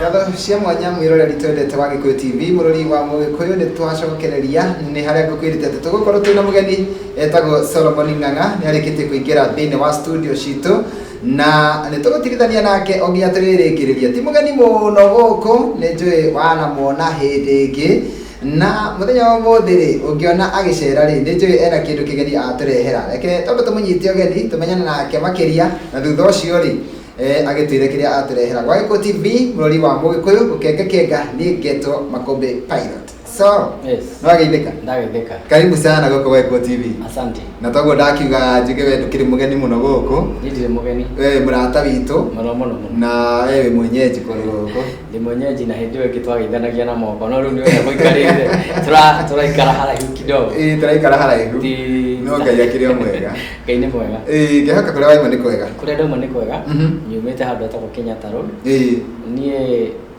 ngatho cia mwanya mwiroreri twendete wa gikuyu tv murori wa mugikuyu ni twacokereria ni haria ngukwirite ati tugukorwo twina mugeni etagwo solomon ng'ang'a ni arikitie kuingira thiini wa studio citũ na nĩ tũgũtirithania nake o nginya tũrĩrĩkĩrĩria ti mũgeni mũno gũkũ nĩ njũĩ wanamuona hĩndĩ ĩngĩ Na mũthenya wa ũmũthĩ rĩ, ũngĩona agĩcera rĩ, nĩ njũĩ ena kĩndũ kĩgeni atũrehera. Reke twambe tũmũnyite ũgeni, tũmenyane nake makĩria, na thutha ũcio rĩ, eh, agĩtwĩre kĩrĩa atũrehera. Gwa Gĩkũ TV, bũrũri wa Mũgĩkũyũ, gũkengakenga, niĩ ngetwo Makũmbĩ Pilot. So, Yes. nĩ wageithĩka? Ndageithĩka. Karibu sana gũkũ Gwa Gĩkũ TV. Asante. Na toguo ndakiuga njuge we ndũkĩrĩ mũgeni mũno gũkũ, Niĩ ndirĩ mũgeni. we wĩ mũrata witũ, Mũno mũno mũno. na we wĩ mwenyeji kũndũ gũkũ. Rĩmwe nyenji na hĩndĩ ĩyo ĩngĩ twageithanagia na moko no rĩu nĩ ũrĩa mũikarĩire Tũra- tũraikara haraihu kidogo Ĩĩ, tũraikara haraihu Ti- no ngai akĩrĩ o mwega ngai nĩ mwega Ĩĩ, ngĩhoka kũrĩa waima nĩ kwega kũrĩa ndauma nĩ kwega Mhm. nyumĩte handũ hetagwo kenyatta road Ĩĩ. niĩ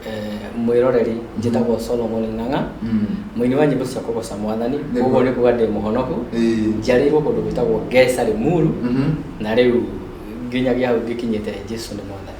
eh, mwĩroreri njĩtagwo solomon ng'ang'a Mm. mũini wa nyĩmbo cia kũgoca mwathani Nĩguo. koguo nĩ kuga ndĩ mũhonoku Ĩĩ. njarĩirwo kũndũ gwĩtagwo ngesa rĩmuru Mhm. na rĩu nginyagia hau ngĩkinyĩte jesu nĩ mwathani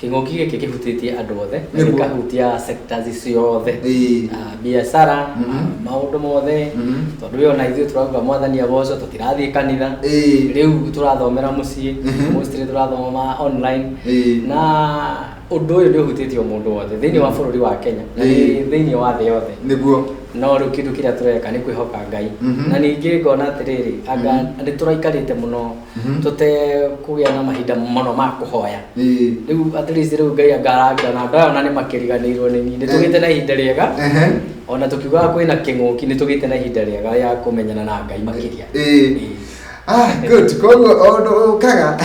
Kĩng'ũki gĩkĩ kĩhutĩtie andũ othe, na Nĩguo. gĩkahutia sectors ciothe. Ĩĩ. Ah, biacara, Mhm. ah, maũndũ mothe, Mhm. tondũ wĩ ona ithuĩ tũrauga mwathani agocwo, tũtirathiĩ kanitha, Ĩĩ. rĩu tũrathomera mũciĩ, Mhm. mostly tũrathoma online, Ĩĩ. na ũndũ ũyũ nĩ ũhutĩtie o mũndũ wothe thĩinĩ wa bũrũri wa Kenya, na Ĩĩ. nĩ thĩinĩ wa thĩ yothe Nĩguo. no rĩu kĩndũ kĩrĩa tũreka nĩ kwĩhoka Ngai Mhm. na ningĩ ngona atĩrĩrĩ anga nĩ tũraikarĩte mũno Mhm. tũtekũgĩa na mahinda mũno ma kũhoya Ĩĩ. rĩu at least rĩu ngai angarangira na andũ aya ona nĩ makĩriganĩirwo nĩ niĩ nĩ tũgĩte na ihinda rĩega Ehe. ona tũkiugaga kwĩna kĩng'ũki nĩ tũgĩte na ihinda rĩega rĩa kũmenyana na ngai makĩria Ĩĩ. Ĩĩ. Ah, good. Koguo o ũndũ ũkaga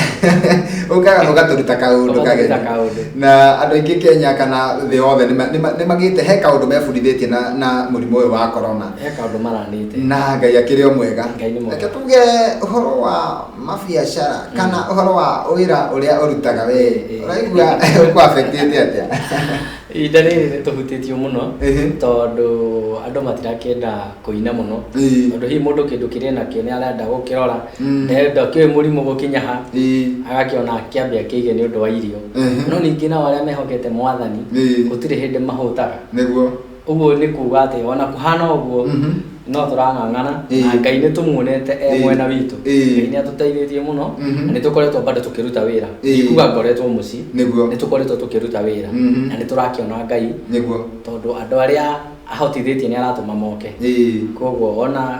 ũkaga ũgatũruta kaũndũ Ũgatũruta kageni. kaũndũ. Na andũ aingĩ Kenya kana thĩ yothe nĩ ma- nĩ ma- nĩ magĩte he kaũndũ mebundithĩtie na na mũrimũ ũyũ wa corona. he kaũndũ maranĩte na ngai akĩrĩ o mwega Ngai nĩ mwega. reke tuge ũhoro wa mabiacara kana ũhoro wa wĩra ũrĩa ũrutaga we Eh, eh. ũraigua ũkwabetĩte atĩa ihinda rĩrĩ nĩ tũhutĩtio mũno Ehe. tondũ andũ matirakĩenda kũina mũno Ĩĩ. tondũ hihi mũndũ kĩndũ kĩrĩ nakĩo nĩ arenda gũkĩrora Mm. nenda kĩũĩ mũrimũ gũkinya ha Ĩĩ. agakĩona kĩambia kĩige nĩ ũndũ wa irio Ehe. no ningĩ nao arĩa mehokete mwathani Ĩĩ. gũtirĩ hĩndĩ mahũtaga nĩguo Ũguo nĩ kuuga atĩ ona kũhana ũguo Mhm. no tũrang'ang'ana Ĩĩ. na Ngai nĩ tũmuonete e Ĩĩ. mwena witũ. Ĩĩ. Ngai nĩ atũteithĩtie mũno Mhm. na nĩ tũkoretwo bado tũkĩruta wĩra. Ĩĩ. Ndikuga ngoretwo mũciĩ. Nĩguo. Nĩ tũkoretwo tũkĩruta wĩra Mhm. na nĩ tũrakĩona Ngai nĩguo tondũ andũ arĩa ahotithĩtie nĩ aratũma moke. Ĩĩ. Koguo ona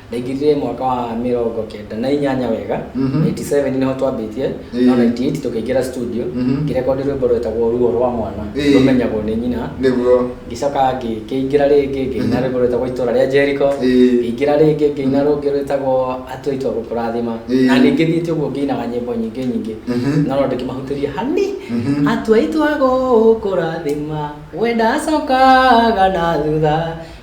ndaingĩrire mwaka wa mĩrongo kenda na inyanya wega Mhm. 87 nĩho twambĩtie Ĩĩ. no 98 tũkĩingĩra studio Mhm. ngĩrekondi rwĩmbo rwetagwo ruo rwa mwana Ĩĩ. rũmenyagwo nĩ nyina nĩguo ngĩcoka ngĩ- ngĩingĩra rĩngĩ ngĩina rwĩmbo rwĩtagwo itũra rĩa jeriko Ĩĩ. ngĩingĩra rĩngĩ ngĩina rũngĩ rwĩtagwo atũ aitũ a gũkũrathima Ĩĩ. na ningĩ thiĩte ũguo ngĩinaga nyĩmbo nyingĩ nyingĩ Mhm. no no ndĩkĩmahutĩria hani Mhm. atũ aitũ a gũkũrathima wenda acokaga na thutha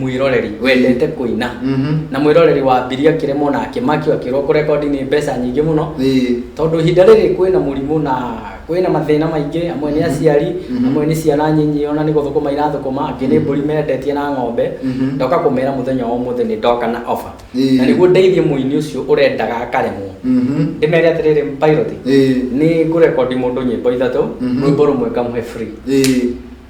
mwĩroreri wendete kũina Mhm. na mwĩroreri wa mbiri akĩremwo na akĩmakio akĩrwo kũrekondi nĩ mbeca nyingĩ mũno Ĩĩ. tondũ ihinda rĩrĩ kwĩna mũrimũ na kwĩna mathĩna maingĩ amwe nĩ aciari Mhm. amwe nĩ ciana nyinyi ona nĩ gũthũkũma irathũkũma angĩ nĩ mbũri mendetie na ng'ombe Mhm. ndoka kũmera mũthenya wa ũmũthĩ nĩ ndoka na ofa Ĩĩ. na nĩguo ndeithie mũini ũcio ũrendaga akaremwo Mhm. ndĩmere atĩrĩrĩ pilot Ĩĩ. nĩ ngũrekondi mũndũ nyĩmbo ithatũ Mhm. rwĩmbo rũmwe ngamũhe free Ĩĩ.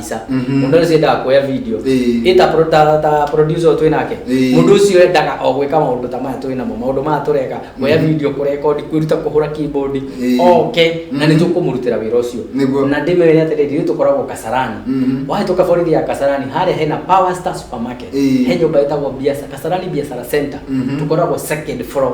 Isa. Mhm. Mũndũ ũcio endaga kuoya video. Ĩĩ. Ĩ ta pro- ta ta producer ũyũ twĩ nake. Ĩĩ. Mũndũ ũcio endaga o gwĩka maũndũ ta maya twĩ namo. Maũndũ maya tũreka, kuoya video, kũrecord, kwĩruta kũhũra keyboard, Ĩĩ. oke na Mhm. nĩ tũkũmũrutĩra wĩra ũcio. Nĩguo. Na ndĩmwĩre atĩrĩrĩ, ithuĩ tũkoragwo Kasarani. Mhm. Wahĩtũka borithi ya Kasarani, harĩa hena Power Star Supermarket. Ĩĩ. He nyũmba ĩtagwo Biasa- Kasarani Biashara Center. Mhm. Tũkoragwo second floor.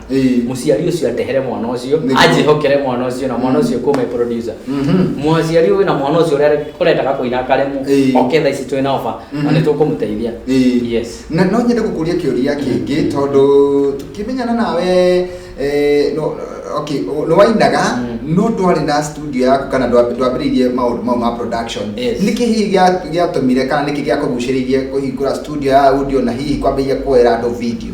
Ĩĩ. mũciari ũcio atehere mwana ũcio Nĩ- anjĩhokere mwana ũcio na mwana ũcio kuuma producer Mhm. mũciari ũyũ na mwana ũcio ũrĩa ũrendaga kũina akaremwo Ĩĩ. oke thaa ici twĩ na oba na Mhm. nĩ tũkũmũteithia Ĩĩ. yes na no nyende gũkũria kĩũria kĩngĩ tondũ tũkĩmenyana nawe eh, no, okay, nĩ wainaga Mm. no ndwarĩ na studio yaku kana ndwa- ndwambĩrĩirie maũndũ mau ma production Yes. nĩ kĩ hihi gĩa- gĩatũmire kana nĩkĩ gĩakũgucĩrĩirie kũhingũra studio ya audio na hihi kwambĩrĩria kuoera andũ video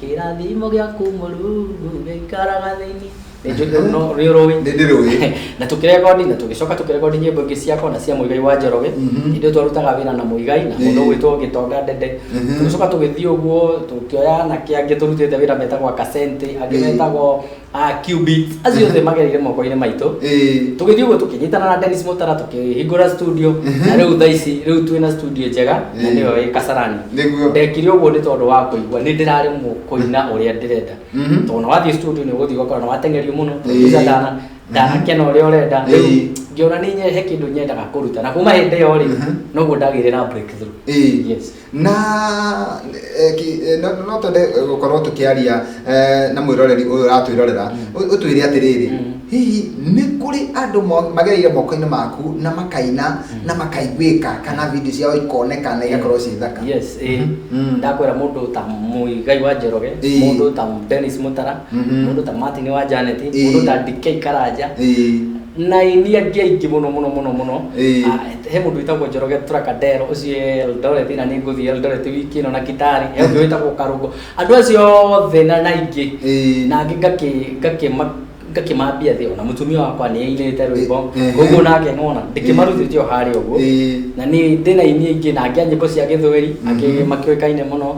Kĩrathimo gĩaku Mũrungu gĩikaraga thĩinĩ. Nĩ ũrũĩ. Nĩ ndĩrũĩ. Na tũkĩrekondi na tũgĩcoka tũkĩrekondi nyĩmbo ingĩ ciakwa na cia Mũigai wa Njoroge. Mhm. Ithuĩ twarutaga wĩra na Mũigai na mũndũ ũgwĩtwo Gĩtonga Ndende. Mhm. Tũgĩcoka tũgĩthiĩ ũguo tũkĩoya anake angĩ tũrutĩte wĩra metagwo Akasente, angĩ metagwo Ah, Qubit. Acio othe magereire moko-inĩ maitũ Ĩĩ. tũgĩthiĩ ũguo tũkĩnyitana na Dennis Mutara tũkĩhingũra studio na rĩu thaa ici rĩu twĩ na studio njega na nĩyo ĩ Kasarani Nĩguo. ndekire ũguo nĩ tondũ wa kũigua nĩ ndĩraremwo kũina ũrĩa ndĩrenda Mhm. tondũ na wathiĩ studio nĩ ũgũthiĩ ũgakora nĩ watengerio mũno Ĩĩ. tondũ ndana ndanakena ũrĩa ũrenda Ĩĩ. rĩu ngĩona nĩ nyehe kĩndũ nyendaga kũruta na kuma hĩndĩ ĩyo rĩ Mhm. noguo ndagĩire na breakthrough Ĩĩ. yes Na no twende gũkorwo tũkĩaria na mwĩroreri ũyũ ũratwĩrorera ũtwĩre atĩrĩrĩ hihi nĩ kũrĩ andũ magereire moko-inĩ maku na makaina na makaiguĩka kana video ciao ikoneka na igakorwo ciĩ thaka yes eh, Mhm. ndakwĩra mũndũ ta mũigai wa njoroge Ĩĩ. mũndũ ta dennis mũtara Mhm. mũndũ ta martin wa janet Eh. mũndũ ta dk karanja Ĩĩ. na ini angĩ aingĩ mũno mũno mũno mũno Ĩĩ. Ah, he mũndũ wĩtagwo njoroge turakadero ũcio e eldoret na nĩ ngũthiĩ eldoret wiki ĩno na kitari he ũngĩ wĩtagwo karungo andũ acio othe na na aingĩ Ĩĩ. na angĩ ngakĩ- ngakĩma- ngakĩmambia thĩ ona mũtumia wakwa nĩ ainĩte rwĩmbo Ĩĩ. koguo nake ng'ona ndĩkĩmarutĩte o harĩa ũguo Ĩĩ. na nĩ ndĩ na ini aingĩ na angĩ a nyĩmbo cia gĩthweri angĩ makĩũĩkaine mũno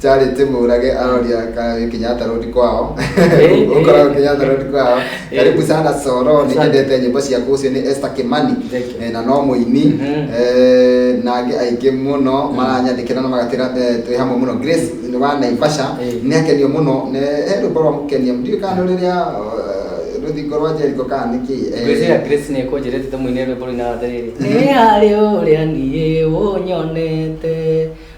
Charlie Timurage aroria ka Kenyatta Road kwao. Eh, Ukoragwo eh. Kenyatta Road kwao. Eh. Karibu sana Soro, Asante. nĩnyendete nyĩmbo ciaku ũcio nĩ Esther Kimani Thank you. eh, na no mũini Mhm. eh, na angĩ aingĩ mũno maranyandĩkĩra na magatĩra eh, twĩ hamwe mũno Grace wa Naivasha Eh. nĩ akenio mũno nĩ he rwĩmbo rwa mũkenia ndiũĩ kana nĩ rũrĩa eh, rũthingo rwa Jericho kana nĩ kĩ eh, ngwĩciria grace nĩ kũnjĩrĩte tũmũinĩ rwĩmbo rũinaga atĩrĩrĩ nĩ harĩ ũrĩa niĩ ũnyonete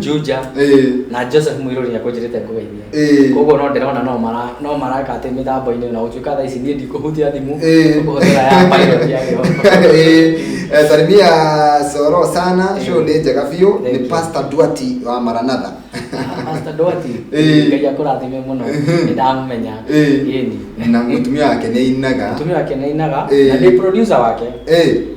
Juja Ĩĩ. na Joseph Mũirũri nĩ akũnjĩrĩte ngũgeithie Ĩĩ. koguo no ndĩrona no mara no maraka atĩ mĩtambo-inĩ na gũtuĩka thaa ici niĩ ndikũhutia thimũ Ĩĩ. kũhũthĩra ya pilot ya Jehova. Eh, eh, salimia soro sana Eh. show nĩ njega biũ Thank nĩ you. pastor duati wa maranatha Pastor Duarte, Ĩĩ. Ngai akũrathime mũno Mhm. nĩ ndamũmenya Ĩĩ. Ĩĩni. na mũtumia wake nĩ ainaga mũtumia wake nĩ ainaga Ĩĩ. na ndĩ producer wake Eh,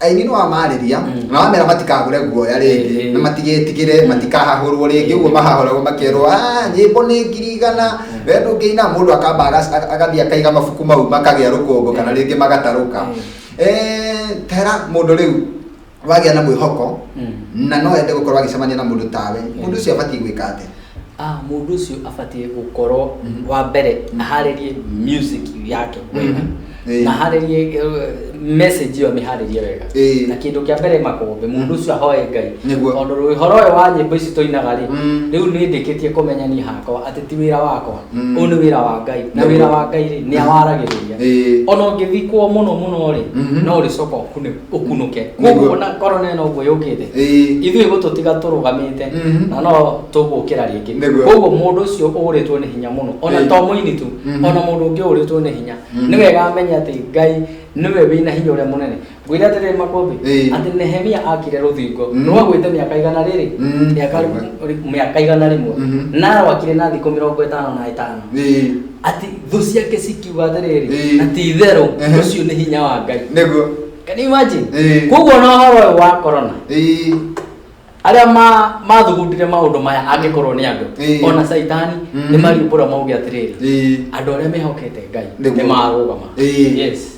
aini nĩ wamarĩria Mm. na wamera matikagũre guoya Eh, eh. rĩngĩ na matigetigĩre matikahahũrwo rĩngĩ ũguo mahahũragwo makerwo "Ah, nyĩmbo nĩ ngiri igana we ndũngĩina mũndũ akamba agas- aga- agathiĩ akaiga mabuku mau makagĩa rũkũngũ kana rĩngĩ magatarũka Mm. Eh, tera mũndũ rĩu wagĩa na mwĩhoko Mm. na no ende gũkorwo agĩcemania na mũndũ tawe mũndũ ũcio abatiĩ gwĩka atĩa Mũndũ ũcio abatiĩ gũkorwo wa mbere aharĩrie music yake wega Eh. na aharĩrie eh, message ĩyo amĩharĩrie wega Eh. na kĩndũ kĩa mbere makombe mũndũ ũcio ahoe ngai Nĩguo. tondũ rũhoro ũyũ wa nyĩmbo ici tũinaga rĩ Mm. rĩu nĩ ndĩkĩtie kũmenya niĩ hakwa atĩ ti wĩra wakwa Mm. ũyũ nĩ wĩra wa ngai na Nĩguo. wĩra wa ngai rĩ nĩ awaragĩrĩria Eh. ona ũngĩthikwo mũno mũno rĩ Mhm. no ũrĩcoka ũkunĩkwo ũkunũke koguo ona korona ĩno ũguo yũkĩte Ĩĩ. ithuĩ gũtũtiga tũrũgamĩte Mhm. na no tũgũkĩra rĩngĩ Nĩguo. koguo mũndũ ũcio ũũrĩtwo nĩ hinya mũno ona Ĩĩ. to mũini tu Mhm. ona mũndũ ũngĩ ũũrĩtwo nĩ hinya Mhm. nĩ wega amenye atĩ ngai nĩwe wĩna hinya ũrĩa mũnene ngwĩre atĩrĩrĩ makũmbĩ Ĩĩ. atĩ nehemia akire rũthingo Mhm. rwagwĩte mĩaka igana rĩrĩ Mhm. mĩaka mĩaka igana rĩmwe Mhm. na rwakire na thikũ mĩrongo ĩtano na ĩtano Ĩĩ. ati thũ ciake cikiuga atĩrĩrĩ Ĩĩ. na ti itherũ Ehe. ũcio nĩ hinya wa ngai nĩguo Can you imagine? Ĩĩ. koguo na ũhoro ũyũ wa corona Ĩĩ. arĩa ma- mathugundire maũndũ maya angĩkorwo nĩ andũ Ĩĩ. ona caitani Mhm. nĩ mariumbũra mauge atĩrĩrĩ Ĩĩ. andũ arĩa mehokete ngai Nĩguo. nĩ marũgama Ĩĩ. yes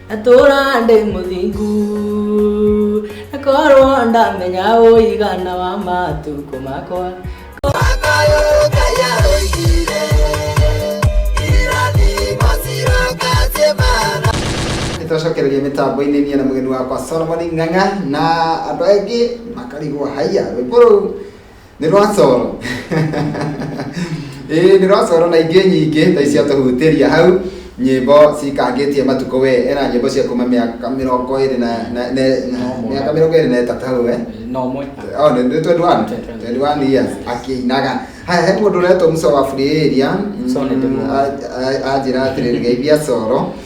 atũra ndĩ mũthingu akorwo ndamenya ũigana wa matukũ makwa nitwacokereria mitambo-inĩ niĩ na mũgeni wakwa solomon ng'ang'a na andũ aingĩ makarigwo haiya rwĩmbo rũu nĩ rwacoro ĩĩ nĩ rwacoro na ingĩ nyingĩ ta icio tũhutĩria hau nyĩmbo cikangĩtie matukũ we ena nyĩmbo cia kuma mĩaka mĩrongo ĩrĩ na na- ne- na- Nomwe. mĩaka mĩrongo ĩrĩ na ĩtatũ hau eh? na ũmwe Oh, nĩ nĩ 21 21 years akĩinaga haya he mũndũ ũretwo musa wa free area Musa nĩ ndĩmuona. anjĩra atĩrĩrĩ geithia coro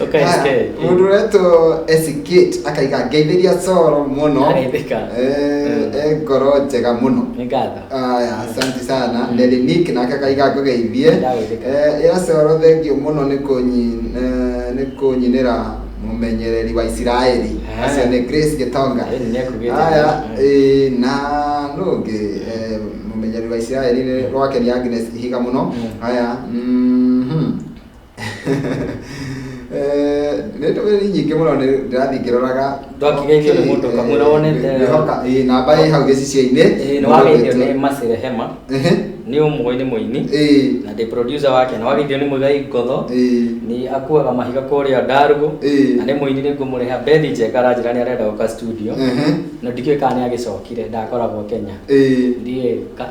Ũka SK. Haya, mũndũ ũretwo esikate akaiga ngeithĩria coro mũno Ageithĩka. Eh, e ngoro njega mũno Nĩ ngatho. Aya, asante sana Lelinik nake akaiga ngũgeithie Ndagũithĩka. Eh, ĩra coro thengio mũno nĩ kũnyi- eh, nĩ kũnyinĩra mũmenyereri wa isiraeli Ah. acio nĩ grace gĩtonga Ĩni nĩekugĩte aya wega. eh, na nũ ũngĩ eh, mũmenyereri wa isiraeli nĩ rwake nĩ agnes ihiga mũno Mm. aya mhm. Eh, nĩ ndũmĩrĩri nyingĩ mũno nĩ- ndĩrathiĩ ngĩroraga Ndwakigeithio nĩ mũndũ kamwe na wonete- ngĩhoka ĩ, namba ĩ hau gĩcicio-inĩ Ĩĩ, nĩ wageithio nĩ Mercy Rehema Ehe. nĩ ũmwe nĩ mũini Ĩĩ. na ndĩ producer wake na wageithio nĩ Muigai Ngotho Ĩĩ. nĩ akuaga mahiga kũrĩa Ndarugũ Ĩĩ. na nĩ mũini nĩ ngũmũrĩha Bethi Njenga aranjĩra nĩ arenda gũka studio Ehe. na ndikĩũĩ kana nĩ agĩcokire ndakoragwo Kenya Ĩĩ. ndiĩ ka-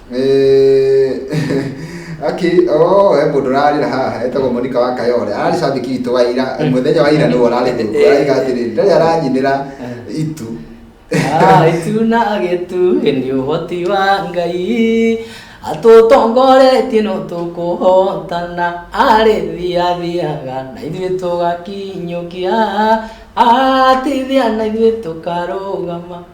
Aki, oh, he mundu rarira haha etagwo Monica wa Kayole arari shabiki witå wa ira eh. muthenya wa ira niwe arari thungu eh. araiga atiri ndari aranyinira eh. itu ah, itu na agetu ni uhoti wa ngai atutongoretie no tukuhotana ari thia thiaga na ithuĩ tũgakinyũkia atithia na ithuĩ tũkarũgama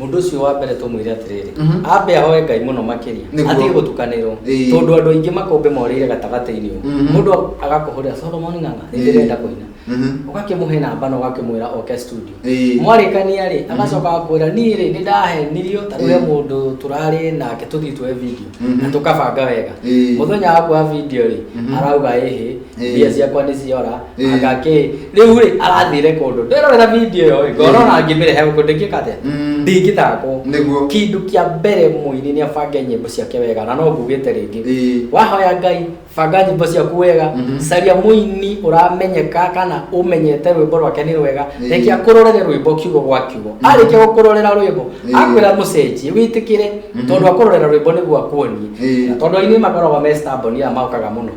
mũndũ ũcio wa mbere tũmwĩre atĩrĩrĩ Mhm. ambe ahoe ngai mũno makĩria Nĩguo. atige gũtukanĩrwo Ĩĩ. tondũ andũ aingĩ makombe morĩire gatagatĩ-inĩ ũguo. Mhm. mũndũ agakũhũrĩra solomon ng'ang'a Ĩĩ. nĩndĩrenda kũina Mhm. ũgakĩmũhe namba na ũgakĩmwĩra oke studio Ĩĩ. mwarĩkania rĩ agacoka akwĩra niĩ rĩ nĩ ndahenirio tarĩu he Ĩĩ. mũndũ tũrarĩ nake tũthiĩ tuoe video Mhm. na tũkabanga wega Ĩĩ. mũthenya wa kuoya video rĩ Mhm. arauga ĩhĩ Eh. mbia ciakwa nĩ ciora Eh. agakĩ rĩu rĩ arathire kũndũ ndĩrorera video ĩyo ĩ, ngorona ngĩmĩrehe gũkũ ndĩngĩka atĩa Mm. ndingĩthakwo Nĩguo. kĩndũ kĩa mbere mũini nĩ abange nyĩmbo ciake wega na no ngugĩte rĩngĩ Eh. wahoya ngai banga nyĩmbo ciaku wega Mhm. caria mũini ũramenyeka kana ũmenyete rwĩmbo rwake nĩ rwega Eh. reke akũrorere rwĩmbo kiugo gwa kiugo Mhm. arĩkia gũkũrorera rwĩmbo Eh. akwĩra mũcenjie wĩtĩkĩre Mhm. tondũ akũrorera rwĩmbo nĩguo akuonie Eh. Na tondũ ainĩ makoragwo me stubborn ĩrĩa maũkaga mũno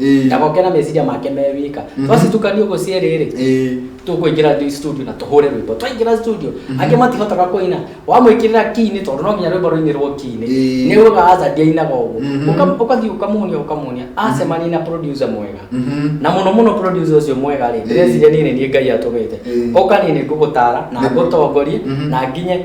Ĩĩ. na goke na meciria make me wika Mhm. twacitukanio ũguo cierĩ rĩ Ĩĩ. tũkũingĩra thi- studio na tũhũre rwĩmbo twaingĩra studio angĩ matihotaga kũina wamwĩkĩrĩra kini tondũ no nginya rwĩmbo rũinĩrwo kini Ĩĩ. nĩ ũgaga aca ndiainaga ũguo Mhm. Ũka- ũgathiĩ ũkamuonia ũkamuonia acemania na producer mwega Mhm. na muno muno producer ucio mwega rĩ Ĩĩ. ndĩreciria niĩ nĩ niĩ ngai atũmĩte Ĩĩ. oka niĩ nĩ ngũgũtara na Nĩ- ngũtongorie Mhm. na nginye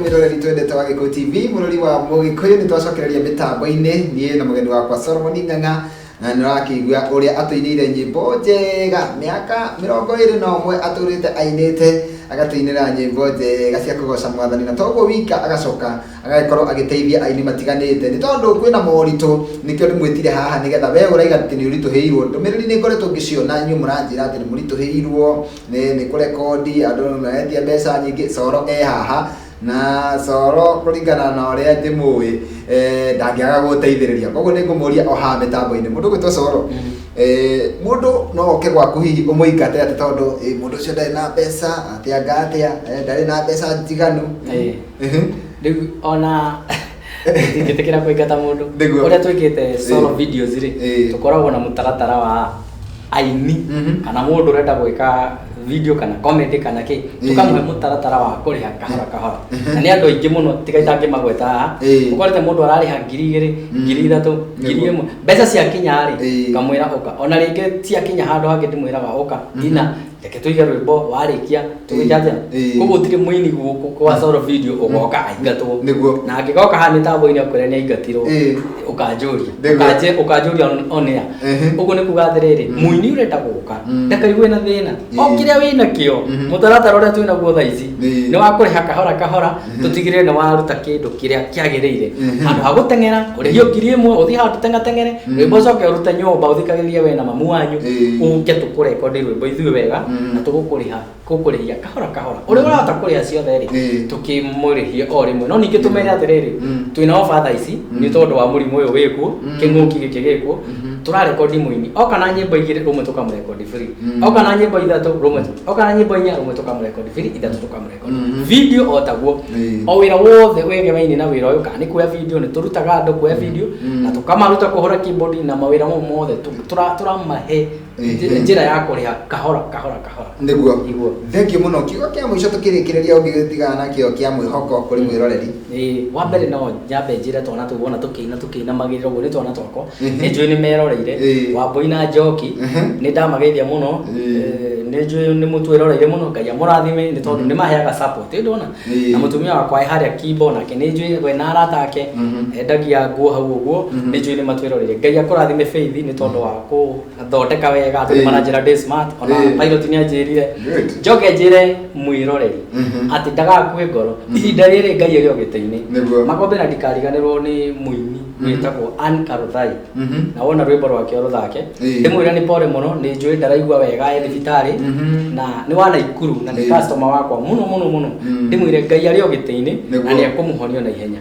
mwiroreri twendete wa gĩkũ tv mũrori wa mũgĩkũyũ nĩ twacokereria mĩtambo-inĩ niĩ na mũgeni wakwa solomon ng'ang'a na nĩ ũrakĩigua ũrĩa atũinĩire nyĩmbo njega mĩaka mĩrongo ĩrĩ na ũmwe atũrĩte ainĩte agatũinĩra nyĩmbo njega cia kũgoca mwathani na toguo wika agacoka agagĩkorwo agĩteithia aini matiganĩte nĩ tondũ kwĩna moritũ nĩkĩo ndĩmwĩtire haha nĩgetha we ũraiga atĩ nĩ ũritũhĩirwo ndũmĩrĩri nĩ ngoretwo ngĩciona inyuĩ mũranjĩra atĩ nĩ mũritũhĩirwo nĩ nĩ kũrekondi andũ maretia mbeca nyingĩ coro e haha na coro kũringana na ũrĩa ndĩmũĩ eh, ndangĩaga gũteithĩrĩria koguo nĩ ngũmũria o haha mĩtambo-inĩ mũndũ gwĩtwo coro eh, mũndũ no oke gwaku hihi ũmũingate atĩ tondũ eh, mũndũ ũcio ndarĩ na mbeca atĩa nga atĩa eh, ndarĩ na mbeca njiganu Eh. rĩu ona ingĩtĩkĩra kũingata mũndũ Nĩguo. ũrĩa twĩkĩte solo Ĩĩ. videos rĩ Ĩĩ. tũkoragwo na mũtaratara wa aini Mhm. kana mũndũ ũrenda gwĩka video kana comedy kana kĩ Ĩĩ. tũkamũhe mũtaratara wa kũrĩha kahora kahora na nĩ andũ aingĩ mũno tiga itangĩmagweta haha Ĩĩ. ũkorete mũndũ ararĩha ngiri igĩrĩ Mm. ngiri ithatũ ngiri Nĩguo. ĩmwe mbeca ciakinya rĩ Ĩĩ. kamwĩra ũka ona rĩngĩ ciakinya handũ hangĩ ndĩmwĩraga ũka Mm. ina reke tuige rwimbo warĩkia tũgĩke atĩa Ĩĩ. koguo gũtirĩ mũini gũkũ kwa solo video ũgoka aingatwo Nĩguo. na angĩgoka haha nĩ tambo-inĩ akwĩra nĩ aingatirwo Ĩĩ. ũkanjũria Nĩguo. Ũkanjĩ- ũkanjũria on- on air Ehe. ũguo nĩ kuga atĩrĩrĩ Mm. mũini ũrenda gũka Mm. ndakaigue na thĩna o Ĩĩ. kĩrĩa wĩ nakĩo Mhm. mũtaratara ũrĩa twĩ naguo thaa ici Ĩĩ. nĩ wa kũrĩha kahora kahora Mhm. tũtigĩrĩre nĩ waruta kĩndũ kĩrĩa kĩagĩrĩire Mhm. handũ ha gũteng'era ũrĩhio ngiri ĩmwe ũthiĩ handũ tengateng'ere Mhm. rwĩmbo ũcoke ũrute nyũmba ũthikagĩrĩrie we na mamu wanyu Ĩĩ. ũke tũkũrekondi rwĩmbo ithuĩ wega Mhm. na tũgũkũrĩha gũkũrĩhia kahora kahora ũrĩa ũrahota kũrĩha ciothe rĩ Ĩĩ. tũkĩmũrĩhie o rĩmwe no ningĩ tũmere atĩrĩrĩ Mhm. twĩna oba tha ici Mhm. nĩ tondũ wa mũrimũ ũyũ wĩkuo Mhm. kĩng'ũki gĩkĩ gĩkuo Mhm. tũrarekondi mũini oka na nyĩmbo igĩrĩ rũmwe tũkamũrekondi biri Mhm. oka na nyĩmbo ithatũ rũmwe oka na nyĩmbo inya rũmwe tũkamũrekondi biri ithatũ tũkamũrekondi video o taguo Ĩĩ. o wira wothe wegemeine na wira uyu kana ni kuoya video ni turutaga andu kuoya video Mm. na tukamaruta kuhura keyboard na mawira mau mothe tu- tura- turamahe Ĩĩ. nji- njira ya kuriha kahora kahora kahora niguo Niguo. thengio muno kiugo kia muico tukirikireria ungi tigana nakio kia mwihoko kuri mwiroreri Ĩĩ, wa mbere no nyambe njĩre twana tũu wona tũkĩina tũkĩinamagĩrĩra ũguo nĩ twana twakwa Mhm. nĩ njũĩ nĩ meroreire Ĩĩ. wambũi na njoki Ehe. nĩ ndamageithia mũno Ĩĩ. Eh, nĩ njũĩ nĩ mũtwĩroreire mũno ngai amũrathime nĩ tondũ nĩ maheaga support ĩ ndona Ĩĩ. na mũtumia wakwa e harĩa kimbo nake nĩ njũĩ we na arata ake Mhm. endagia nguo hau ũguo Mhm. nĩ njũĩ nĩ matwĩroreire ngai akũrathime faith nĩ tondũ wa kũ thondeka wega Ĩĩ. tondũ maranjĩra ndĩ smart ona Ĩĩ. pilot nĩ anjĩrire Good. njoke njĩre mwĩroreri Mhm. atĩ ndagakue ngoro ihinda rĩrĩ ngai arĩ o gĩtĩ-inĩ Nĩguo. makombe na ndikariganĩrwo nĩ mũini Mhm. wĩtagwo Ann Karuthai Mhm. na wona rwĩmbo rwake rũthake Ĩĩ. ndĩmwĩre nĩ pore mũno nĩ njũĩ ndaraigua wega e thibitarĩ Mhm. na nĩ wa naikuru na nĩ Ĩĩ. customer wakwa mũno mũno mũno Mm. ndĩmwĩre ngai arĩ o gĩtĩ-inĩ na Nĩguo. nĩ ekũmũhonia na ihenya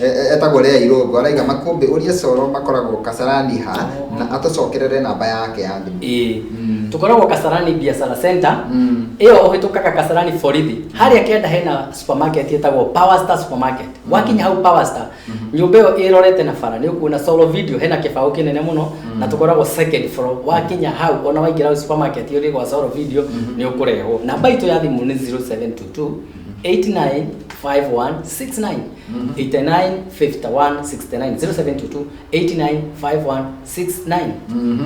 E- e- etagwo Lea Irũngũ araiga makũmbĩ ũrie Coro makoragwo Kasarani ha na atũcokerere namba yake ya thimũ. Ĩĩ. Mm. tukoragwo kasarani biashara center Mm. ĩyo ũhĩtũkaga kasarani borithi harĩa kenda hena supermarket ĩtagwo power star supermarket wakinya hau power star nyũmba ĩyo ĩrorete na bara nĩ ũkuona solo video hena kĩbaũ kĩnene mũno na tũkoragwo second floor wakinya hau ona waingĩra hau supermarket ũrĩ gwa solo video nĩ ũkũrehwo namba itũ ya thimũ nĩ 0722 895169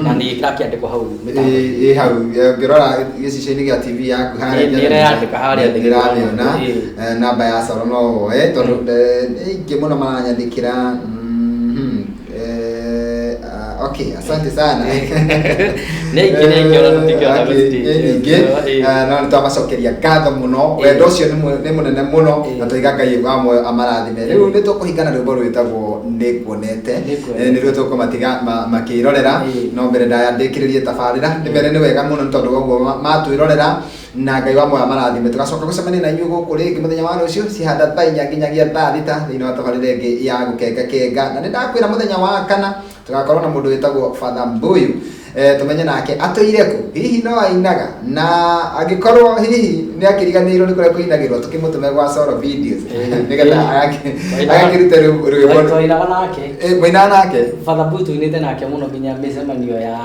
na nä ä rakä andä ko hau mĩtambo-inĩ. ä hau eh, ngĩrora gĩcicio-inĩ gĩa tv yaku harĩa Nĩ- nĩreyandĩka harĩa thĩ. ndĩramĩona Ĩĩ. Eh, namba ya coro no woe tondũ eh, nĩ aingĩ mũno maranyandĩkĩra mhm. Eh, ah, okay, asante sana Nĩ aingĩ, nĩ aingĩ ona tũtingĩona Eh, gũtirĩ. nĩ nyingĩ Eh. Eh, no nĩ twamacokeria ngatho mũno wendo ũcio nĩ mũ- nĩ mũnene mũno Eh. na tũiga ngai wa muoyo amarathime rĩu nĩ tũkũhingana rwĩmbo rwĩtagwo nĩ kuonete Nĩkuonete. Eh, nĩruo tũkũmatiga ma- makĩrorera Eh. no mbere ndaya ndĩkĩrĩrie tabarĩra nĩ mbere nĩ wega mũno nĩ tondũ woguo ma- matwĩrorera na ngai wa moya marathime tugacoka gucemania na inyuĩ gũkũ rĩngĩ mũthenya wa rũciũ cihanda thaa inya nginyagia thaa thita thĩinĩ wa tabarĩra ĩngĩ ya gũkengakenga na nĩ ndakwĩra mũthenya wa kana tũgakorwo na mũndũ wĩtagwo fatha mbuyu eh, tũmenye nake atũire kũ hihi no ainaga na angĩkorwo hihi nĩ akĩriganĩirwo nĩ kũrĩa kũinagĩrwo tũkĩmũtũme gwa soro videos nĩgetha agakĩ- agakĩruta rwĩ- rwĩmbo twainaga nake Eh, mũinaga nake batha mbuyu tuinĩte nake mũno nginya mĩcemanio ya